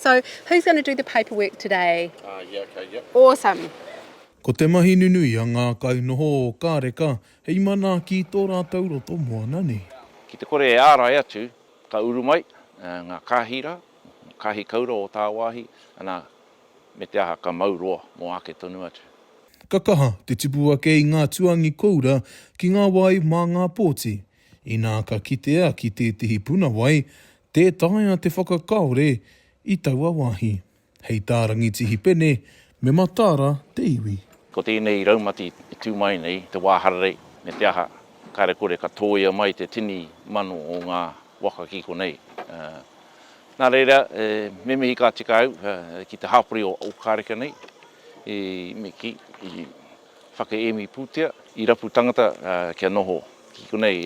So, who's going to do the paperwork today? Ah, yeah, okay, yep. Awesome. Ko te mahi nunui a ngā kainoho o Kāreka hei manaaki i tō rātou roto moana nei. Ki te kore e ārai atu, ka uru mai ngā kāhi rā, kāhi kaura o tāwāhi, anā, me te aha, ka mau roa mō āke tonu atu. Ka kaha te tupu ake i ngā tuangi koura ki ngā wai mā ngā pōti, Inā ka kitea ki tētehi puna wai, tē taea te whakakaore i taua wāhi. Hei tā Rangitihi Pene, me mataara te iwi. Ko tēnei raumati e tū mai nei, te wā hararei, me te aha, kāre kore ka tōia mai te tini mano o ngā waka ki konei. Nā reira, me mihi ka tika au ki te hapori o Ōkareka nei, me kī, Whakaemi pūtea i rapu tangata kia noho ki konei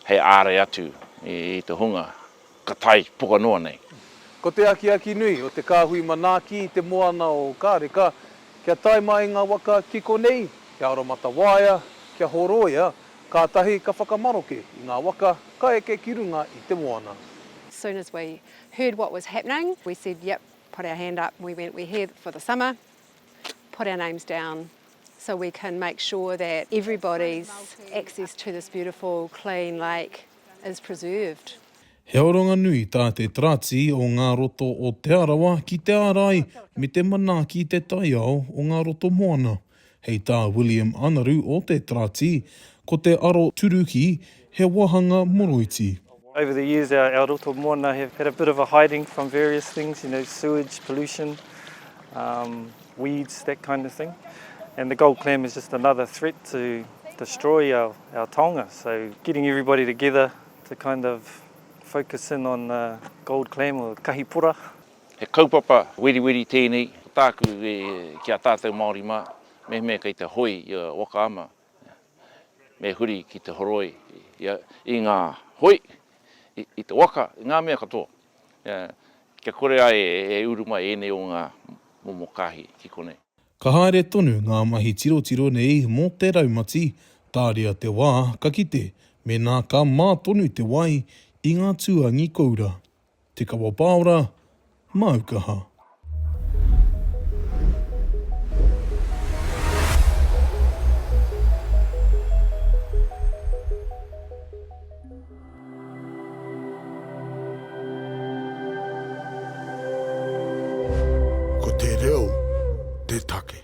hei ārai atu i te hunga ka tae poka noa nei. Ko te akiaki nui o te kāhui manaaki i te moana o Ōkareka kia tae mai ngā waka ki konei, kia aromatawaia, kia horoia, kātahi ka whakamaroke i ngā waka ka eke ki runga i te moana. Soon as we heard what was happening we said yep put our hand up we went we here for the summer. put our names down so we can make sure that everybody's access to this beautiful clean lake is preserved. He aronga nui tā te Tarati o ngā Roto o Te Arawa ki te ārai me te manaaki i te taiao o ngā roto moana. Hei tā William Anaru o te Tarati, ko te aroturuki He wāhanga moroiti. Over the years our roto moana have had a bit of a hiding from various things, you know, sewage, pollution, weeds, that kind of thing. And the gold clam is just another threat to destroy our taonga. So getting everybody together to kind of focus in on the gold clam or kahi pora. He kaupapa weriweri tēnei, ko tāku e, ki a tātou Māori mā, mehemea kei te hoe i a Waka Ama, Me huri ki te horoi i ngā hoi, i te waka, i ngā mea katoa. Kia kore ai e uru mai ēnei o ngā momo kāhi ki konei. Ka haere tonu ngā mahi tirotiro nei mō te raumati, tāria te wā ka kite mēnā ka mā tonu te wai i ngā tūāngi koura. Te Kawa Paora, Māu Kaha. Ko te reo te take.